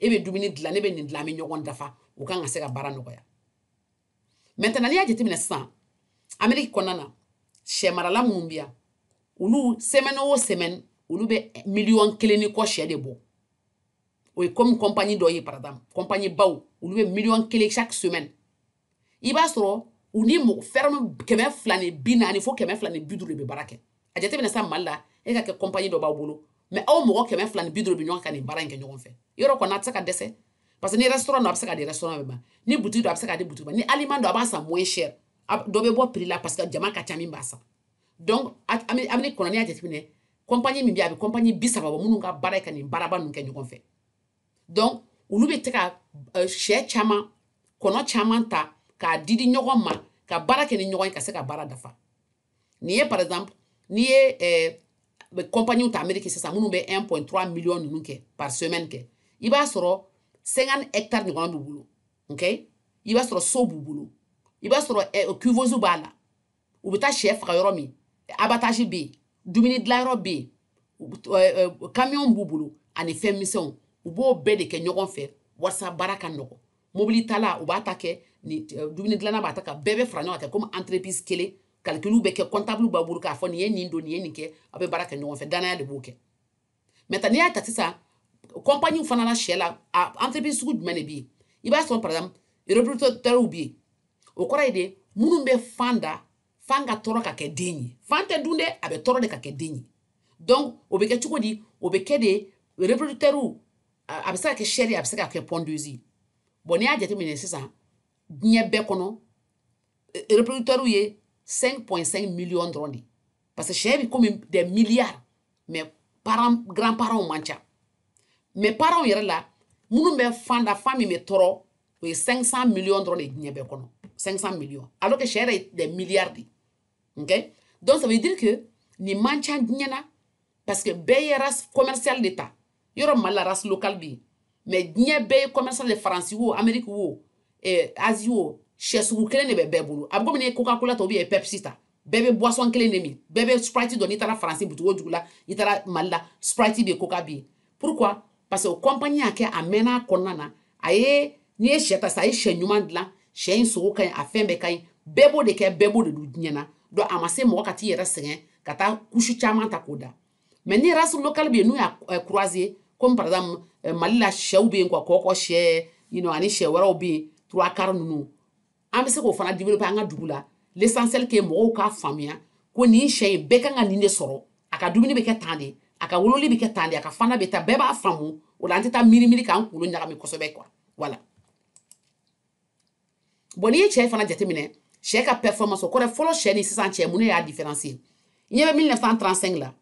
e bɛ dumuni dilan ne bɛ nin dilan an bɛ ɲɔgɔn dafa o kan ka se ka baara nɔgɔya maintenant n'i y'a jateminɛ sisan ameriki kɔnɔna na sɛ marala minnu bɛ yan olu semaine o semaine olu bɛ miliyɔn kelen ni kɔ sɛ de bɔ o ye komi kɔnpani dɔ ye par exemple kɔnpani baw olu bɛ miliyɔn kelen chaque semaine i b'a sɔrɔ u ni mɔgɔ ferme kɛmɛ fila ni bi naani fo kɛmɛ fila ni bi duuru de bɛ baara kɛ a jateminɛ sa mali la e ka kɛ kɔnpani dɔ b'aw bolo mais aw mɔgɔ kɛmɛ fila ni bi duuru bɛ ɲɔgɔn ka nin baara in kɛ ɲɔgɔn fɛ yɔrɔ kɔni a tɛ se ka dɛsɛ parce que ni restaurant don a bɛ se ka di restaurant bɛɛ ma ni butigi don a bɛ se ka di butigi ma ni aliment don a b'a san moins cher dɔ bɛ bɔ prix la parce que jama ka ca min b'a san donc ameriki kɔnɔ n'i y'a jateminɛ kɔnpani min bɛ yen a bɛ kɔnpani bi saba bɔ minnu ka baara ye ka nin baaraba ninnu kɛ ɲɔgɔn fɛ donc olu bɛ tɛ ka euh, sɛ caman kɔnɔ caman ta k'a di di ɲɔgɔn ma ka baara kɛ ni ɲɔgɔn ye ka se ka baara dafa n'i ye par exemple n'i ye euh, kɔnpaniw ta ameriki sisan minnu bɛ 1.3 million ninnu kɛ par semaine kɛ i b'a sɔrɔ 50 hectares ɲɔgɔn b'u bolo ok i b'a sɔrɔ so b'u bolo i b'a sɔrɔ euh, couveuse b'a la u bɛ taa shɛ faga yɔrɔ min abattage bɛ yen dumuni dilanyɔrɔ bɛ yen kamiyɔn b'u bolo ani fɛn misɛnw u b'o bɛɛ de kɛ ɲɔgɔn fɛ walasa baara ka nɔgɔ mobili tala u b'a ta kɛ dumuni dilanna b'a ta kɛ bɛɛ bɛ fara ɲɔgɔn kan komi entreprise kelen calcul bɛ kɛ comptable b'a bolo k'a fɔ nin ye nin don nin ye nin kɛ aw bɛ baara kɛ ɲɔgɔn fɛ danaya de b'o kɛ maintenant n'i y'a ta sisan kɔnpaniw fana la sɛ la entreprise sugu jumɛn de bɛ yen i b'a sɔrɔ par exemple reproducteurs bɛ yen o kɔrɔ ye de minnu bɛ fan da fan ka tɔɔrɔ ka kɛ den ye fan tɛ dun dɛ a bɛ tɔɔrɔ de ka kɛ den ye donc o bɛ kɛ cogo di o bɛ kɛ de reproducteurs a bɛ se ka kɛ sɛ ye a bɛ se ka kɛ pondeuses bon n'i y'a jateminɛ sisan diɲɛ bɛɛ kɔnɔ reproducteurs ye 5.5 millions dɔrɔn de parce que sɛ bɛ komi des milliards mais grand parents man ca mais parents yɛrɛ la minnu bɛ fan da fan min bɛ tɔɔrɔ o ye 500 millions dɔrɔn de diɲɛ bɛɛ kɔnɔ 500 millions alors que sɛ yɛrɛ ye des milliards de ok donc ça veut dire que nin man ca diɲɛ na parce que bɛɛ ye race commerciale de ta yɔrɔ mali la race locale bɛ yen mais diɲɛ bɛɛ ye commercial de faransi wo ameriki wo eh, azi wo sɛ sugu kelen de bɛ bɛɛ bolo a bɛ komi n'i ye coca cola ta ou bien pepsi ta bɛɛ bɛ boisson kelen de min bɛɛ bɛ sprite dɔn n'i taara faransi boutique o dugu la i taara mali la sprite bɛ yen coca bɛ yen pourquoi parce que o compagnie y'a kɛ a mɛnna a kɔnɔna na a ye n'i ye sɛ ta sisan a ye sɛ ɲuman dilan sɛ in sogo ka ɲi a fɛn bɛɛ ka ɲi bɛɛ b'o de kɛ bɛɛ b'o de dun diɲɛ na donc a ma se mɔgɔ ka t'i yɛrɛ sɛgɛn ka taa couche caman ta k'o da mais ni race locale bɛ yen n'u y'a eh, croiser comme par exemple eh, mali la sɛw bɛ yen quoi kɔkɔ sɛ you know, ani sɛ wɛrɛw bɛ yen trois quart ninnu an bɛ se k'o fana développer an ka dugu la l'essentiel que mɔgɔw k'a faamuya ko nin sɛ in bɛɛ kan ka nin de sɔrɔ a ka dumuni bɛ kɛ tan de a ka wololi bɛ kɛ tan de a ka fana bɛ ta bɛɛ b'a faamu o la an tɛ taa miiri miiri k'an kunkolo ɲagami kosɛbɛ quoi voilà bon n'i ye sɛ fana jateminɛ sɛ ka performance o kɔrɔ fɔlɔ sɛ ni sisan sɛ mun de y'a différence ye ɲɛ bɛ 1935 la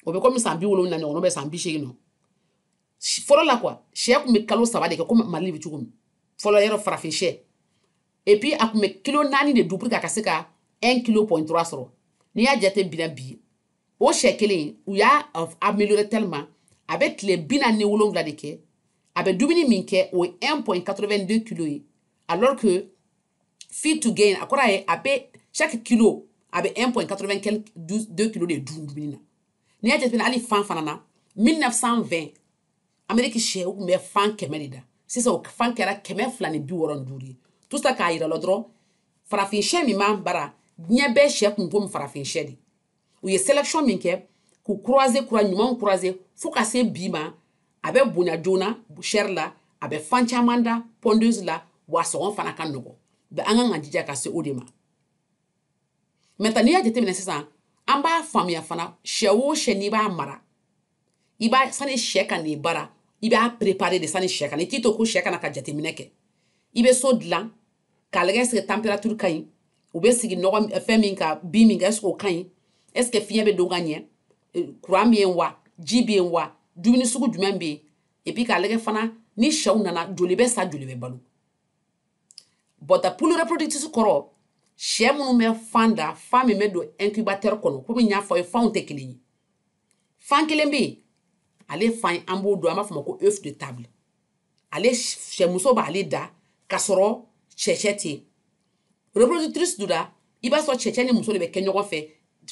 o bɛ komi san bi wolonwula ɲɔgɔn bɛ san bi seegin nɔ fɔlɔ la quoi sɛ tun bɛ kalo saba de kɛ komi mali bɛ cogo min fɔlɔ yɔrɔ farafin sɛ et puis a tun bɛ kilo naani de dun pour que a ka se ka un kilo point trois sɔrɔ n'i y'a jate bila bi o sɛ kelen u y'a améliorer tellement a bɛ tile bi naani ni wolonwula de kɛ a bɛ dumuni min kɛ o ye 1.82 kilo ye alors que feed to gain a kɔrɔ ye a bɛ chaque kilo a bɛ 1.82 kilo de dun dumuni na n'i y'a jateminɛ hali fan fana na 1920 ameriki sɛ u tun bɛ fan kɛmɛ de da sisan o fan kɛra kɛmɛ fila ni bi wɔɔrɔ ni duuru ye tout ça k'a yira la dɔrɔn farafin sɛ min b'an bara diɲɛ bɛɛ sɛ tun komi farafin sɛ de u ye sélection min kɛ k'u croiser kura ɲumanw croiser fo ka se bi ma a bɛ bonya joona chair la a bɛ fan caman da pondeuse la wa sɔngɔ fana ka nɔgɔ bɛ an kan ka jija ka se o de ma maintenant n'i y'a jateminɛ sisan an b'a faamuya fana sɛ o sɛ n'i b'a mara i b'a sani sɛ ka n'i bara i b'a préparer de sani sɛ ka na i t'i to ko sɛ ka na ka jateminɛ kɛ i bɛ so dilan k'a lajɛ est-ce que température ka ɲi u bɛ sigi nɔgɔ fɛn min kan bin min kan est-ce que o ka ɲi est-ce que fiɲɛ bɛ don ka ɲɛ courant bɛ yen wa ji bɛ yen wa dumuni sugu jumɛn bɛ yen et puis k'a lajɛ fana ni sɛw nana joli bɛ sa joli bɛ balo bɔta poule reproductrice kɔrɔ sɛ minnu bɛ fan da fan min bɛ don incubateur kɔnɔ komi n y'a fɔ aw ye fanw tɛ kelen ye fan kelen bɛ yen ale fan an b'o dun an b'a fɔ o ma ko œuf de table ale sɛmuso b'ale da k'a sɔrɔ sɛcɛ tɛ yen reproductrice donna i b'a sɔrɔ sɛcɛ ni muso de bɛ kɛ ɲɔgɔn fɛ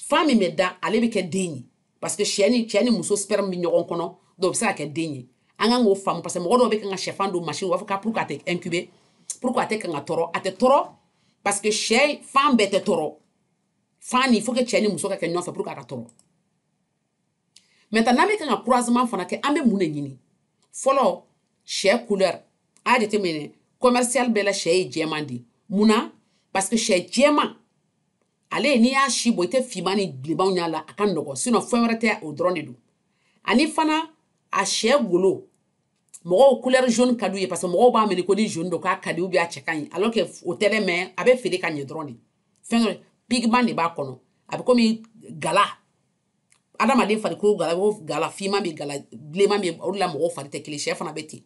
fan min bɛ da ale bɛ kɛ den ye parce que sɛ ni cɛ ni muso sperme bɛ ɲɔgɔn kɔnɔ donc o bɛ se ka kɛ den ye an kan k'o faamu parce que mɔgɔ dɔw bɛ kan ka sɛfan don machine u b'a fɔ ko pourquoi a tɛ incuber pourquoi a tɛ kan ka tɔrɔ a tɛ tɔrɔ parce que sɛ fan bɛɛ tɛ tɔrɔ fan ni faut que cɛ ni muso ka kɛ ɲɔgɔn fɛ pour que a ka tɔrɔ maintenant n'an bɛ kan ka croisement fana kɛ an bɛ mun de ɲini fɔlɔ sɛ couleur a y'a jateminɛ commercial bɛɛ la sɛ ye jɛman de ye mun na parce que sɛ jɛman ale n'i y'a si bɔ i tɛ finman ni bilenmanw y'a la a ka nɔgɔn sinon fɛn wɛrɛ tɛ o dɔrɔn de don ani fana a sɛ golo mɔgɔw couleur jaune ka d'u ye parce que mɔgɔw b'a miiri ko ni jaune don k'a ka di ou bien a cɛ ka ɲi alors que o tɛ dɛ mais a bɛ feere ka ɲɛ dɔrɔn de fɛn dɔ pigment de b'a kɔnɔ a bɛ komi gala adamaden farikolo gala o gala finman bɛ gala bilenman bɛ o de la mɔgɔw fari tɛ kelen sɛ fana bɛ ten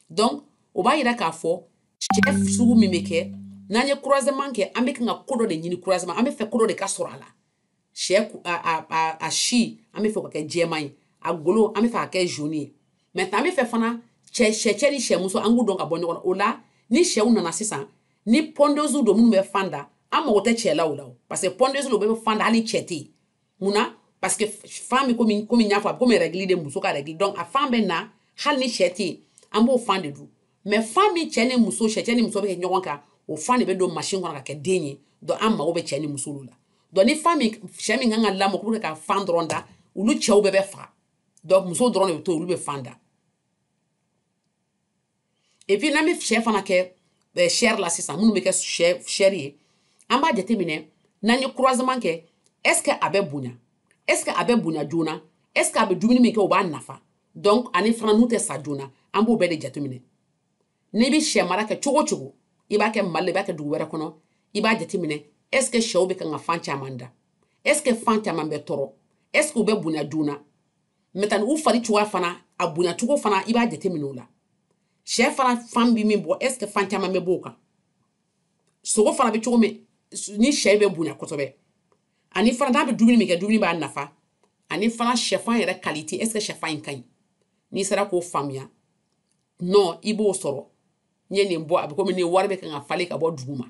donc o b'a yira k'a fɔ sɛ sugu min bɛ kɛ n'an ye croisement kɛ an bɛ kan ka ko dɔ de ɲini croisement an bɛ fɛ ko dɔ de ka sɔrɔ a la sɛ a si an bɛ fɛ ka kɛ jɛman ye a golo an bɛ fɛ ka kɛ jaune ye mais an bɛ fɛ fana cɛ sɛcɛ ni sɛmuso an k'u dɔn ka bɔ ɲɔgɔn na o la ni sɛw nana sisan ni pondeuse don minnu bɛ fan da an mago tɛ cɛ la o la parce que pondeuse dun bɛ fan da hali cɛ tɛ yen mun na parce que fan bɛ komi komi n y'a fɔ a bɛ komi règle de muso ka règle donc a fan bɛ na hali ni cɛ tɛ yen an b'o fan de dun mais fan min cɛ ni muso cɛ cɛ ni muso bɛ kɛ ɲɔgɔn kan o fan de bɛ don machine kɔnɔ ka kɛ den ye donc an mago bɛ cɛ ni muso la donc ni fan min sɛ min kan ka lamɔ k'u bɛ ka fan dɔrɔn da olu cɛw bɛɛ bɛ faga donc muso dɔrɔn de bɛ to olu bɛ fan da et puis n'an bɛ sɛ fana kɛ chair la sisan minnu bɛ kɛ chair ye an b'a jateminɛ n'an ye croisement kɛ est ce que a bɛ bonya est ce que a bɛ bonya joona est ce que a bɛ dumuni min kɛ o b'a nafa donc ani fana n'u tɛ sa joona an b'o bɛɛ de jateminɛ n'i bɛ sɛ mara kɛ cogo o cogo i b'a kɛ mali la i b'a kɛ dugu wɛrɛ kɔnɔ i b'a jateminɛ est ce que sɛw bɛ kan ka fan caman da est ce que fan caman bɛ tɔrɔ est ce que u bɛ bonya joona maintenant u fari cogoya fana a bonya cogo fana i b'a jateminɛ o la sɛ fana fan bɛ min bɔ est ce que fan caman bɛ bɔ o kan sogo fana bɛ cogo min ni sɛ bɛ bonya kosɛbɛ ani fana n'a bɛ dumuni min kɛ dumuni b'a nafa ani fana sɛfan yɛrɛ qualité est ce que sɛfan in ka ɲi n'i sera k'o faamuya nɔ i b'o sɔrɔ n ye nin bɔ a bɛ komi ni wari bɛ kan ka falen ka bɔ dugu ma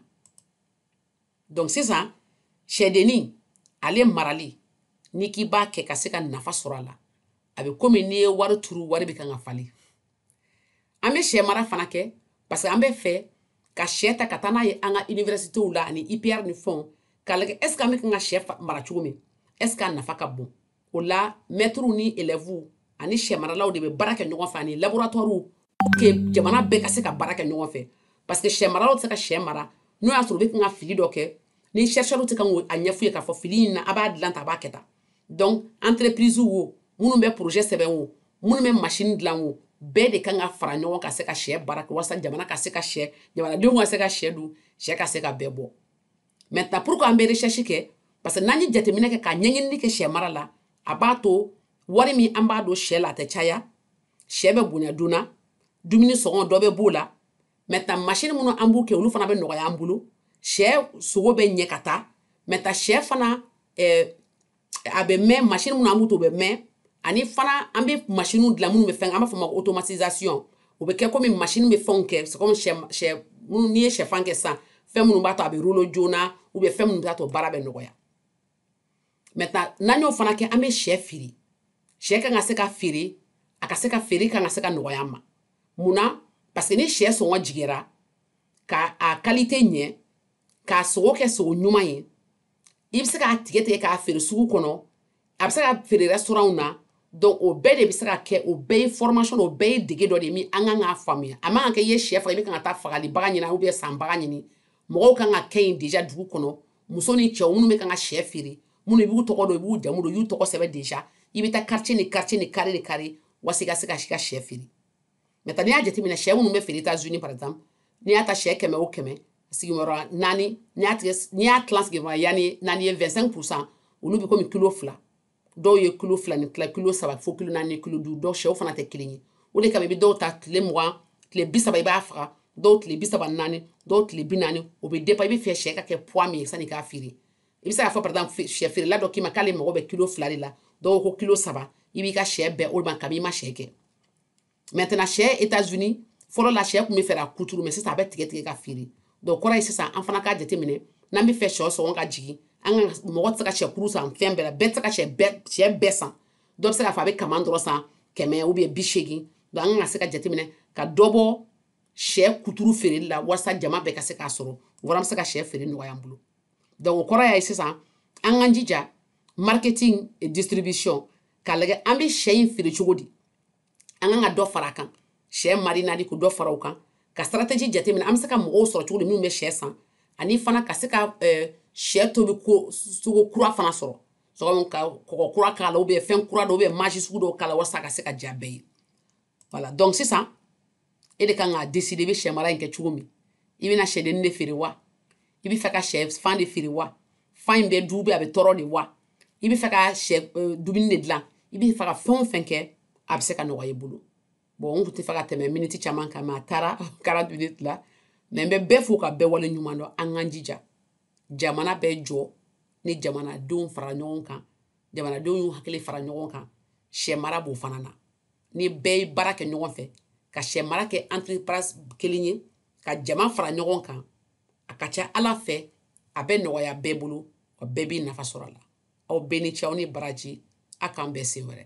donc sisan sɛdennin ale marali n'i k'i b'a kɛ ka se ka nafa sɔrɔ a la a bɛ komi n'i ye wari turu wari bɛ kan ka falen an bɛ sɛ mara fana kɛ parce que an bɛ fɛ ka sɛ ta ka taa n'a ye an ka universitew la ani IPR ni fɛnw k'a lajɛ est ce que an bɛ kan ka sɛ mara cogo min est ce que a nafa ka bon o la mɛtiriw ni élèves ani sɛ maralaw de bɛ baara kɛ ɲɔgɔn fɛ ani laboratɔriw que jamana bɛɛ ka se ka baara kɛ ɲɔgɔn fɛ parce que sɛ maralaw tɛ se ka sɛ mara n'o y'a sɔrɔ u bɛ kan ka fili dɔ kɛ ni chercheurs tɛ kan k'a ɲɛf'u ye k'a fɔ fili in na a b'a dilan tan a b'a kɛ tan donc entreprise wo minnu bɛ projet sɛbɛn wo minnu bɛ machine dilan wo bɛɛ de kan ka fara ɲɔgɔn ka se ka sɛ baara kɛ walasa jamana ka se ka sɛ jamanadenw ka se ka sɛ dun sɛ ka se ka bɛɛ bɔ maintenant pourquoi an bɛ recherche kɛ parce que n'an ye jateminɛ kɛ ka ɲɛɲinini kɛ sɛ mara la a b'a to wari min an b'a don sɛ la a tɛ caya sɛ bɛ bonya joona dumuni sɔngɔ dɔ bɛ b'o la maintenant masini minnu an b'u kɛ olu fana bɛ nɔgɔya an bolo sɛ sogo bɛ ɲɛ ka taa maintenant sɛ fana eh, a bɛ mɛn masini minnu an b'u to bɛ mɛn ani fana an bɛ masiniw dilan minnu bɛ fɛn an b'a fɔ o ma automatisation o bɛ kɛ komi masini bɛ fɛnw kɛ c'est comme sɛ sɛ minnu n'i ye sɛfan kɛ sisan fɛn minnu b'a to a bɛ rouler joona ou bien fɛn minnu b'a to baara bɛ nɔgɔya maintenant n'an y'o fana kɛ an bɛ sɛ feere sɛ kan ka se ka feere a ka se ka feere kan ka se ka nɔgɔya an ma mun na parce que ni sɛ sɔngɔ jigira ka a kalite ɲɛ k'a sogo kɛ sogo ɲuman ye i bɛ se k'a tigɛ tigɛ k'a feere sugu kɔnɔ a bɛ se ka feere restaurantw na donc o bɛɛ de bɛ se ka kɛ o bɛɛ ye formation o bɛɛ ye dege dɔ de ye min an kan k'a faamuya a man kan kɛ i ye sɛ faga i bɛ kan ka taa fagalibaga ɲini ou bien sanbaga ɲini mɔgɔw kan ka kɛ yen déjà dugu kɔnɔ muso ni cɛw minnu bɛ kan ka sɛ feere minnu i b'u tɔgɔ dɔn i b'u jamu dɔn i y'u tɔgɔ sɛbɛn déjà i bɛ taa quartier ni quartier ni carré ni carré walasa i ka se ka se ka sɛ feere maintenant n'i y'a jateminɛ sɛ minnu bɛ feere États-Unis par exemple n'i y'a ta sɛ kɛmɛ o kɛmɛ sigiyɔrɔ naani n'i y'a tigɛ n'i y'a tilan sigiyɔrɔ naani naani ye 25 pourcent olu bɛ komi kilo fila dɔw ye kilo fila ni tila kilo saba fo kilo naani kilo duuru dɔw sɛw fana tɛ kelen ye o de kama i bɛ dɔw ta tile mugan tile bi saba i b'a faga dɔw tile bi saba ni naani dɔw tile bi naani o bɛ dépend i bɛ fɛ sɛ ka kɛ poids min ye sani i k'a feere i bɛ se k'a fɔ par exemple sɛ feerela dɔ k'i ma k'ale mago bɛ kilo fila de la dɔw ko kilo saba i b'i ka sɛ bɛn o ma kabi i ma sɛ kɛ maintenant sɛ États-Unis fɔlɔ la sɛ tun bɛ feere kuturu mais sisan a bɛ tigɛ tigɛ ka feere donc o kɔrɔ ye sisan an fana k'a jateminɛ n'an bɛ fɛ sɛ sɔngɔ ka jigin an ka mɔgɔ tɛ se ka sɛ kuru san fɛn bɛɛ la bɛɛ tɛ se ka sɛ bɛɛ sɛ bɛɛ san dɔ bɛ se k'a fɔ a bɛ kaman dɔrɔn san kɛmɛ ou bien bi seegin donc an ka se ka jateminɛ ka dɔ bɔ sɛ kuturu feereli la walasa jama bɛɛ ka se k'a sɔrɔ o fana bɛ se ka sɛ feere nɔgɔya an bolo donc o kɔrɔ y'a ye sisan an k'an jija marketing et distribution k'a lajɛ an bɛ sɛ in feere cogo di an kan ka dɔ fara a kan sɛ marinade ko dɔ fara o kan ka stratégie jateminɛ an bɛ se ka mɔgɔw sɔrɔ cogo di minnu bɛ sɛ san ani fana ka se ka sɛ tobi ko cogo kura fana sɔrɔ sɔgɔma ka kɔgɔ kura k'a la ou bien fɛn kura dɔ ou bien maji sugu dɔw k'a la walasa a ka se ka diya bɛɛ ye voilà donc sisan e de kan k'a décider i bɛ sɛ mara in kɛ cogo min i bɛna sɛdennin de feere wa i bɛ fɛ ka sɛ fan de feere wa fan in bɛ du bɛ a bɛ tɔrɔ de wa i bɛ fɛ ka sɛ eh, dumuni de dilan i bɛ fɛ ka fɛn o fɛn kɛ a bɛ se ka nɔgɔya i bolo bon n tun tɛ fɛ ka tɛmɛ miniti caman kan mais a taara quarante minutes la mais n bɛ bɛɛ fo ka bɛɛ wale ɲuman dɔn an k'an jija jamana bɛ jɔ ni jamanadenw fara ɲɔgɔn kan jamanadenw y'u hakili fara ɲɔgɔn kan sɛ mara b'o fana na ni bɛɛ ye baara kɛ ɲɔgɔn fɛ ka sɛ mara kɛ entreprise kelen ye ka jama fara ɲɔgɔn kan a ka ca ala fɛ a bɛ nɔgɔya bɛɛ bolo wa bɛɛ b'i nafa sɔrɔ a la aw bɛɛ ni ce aw ni baraji a k'an bɛn siɲɛ wɛrɛ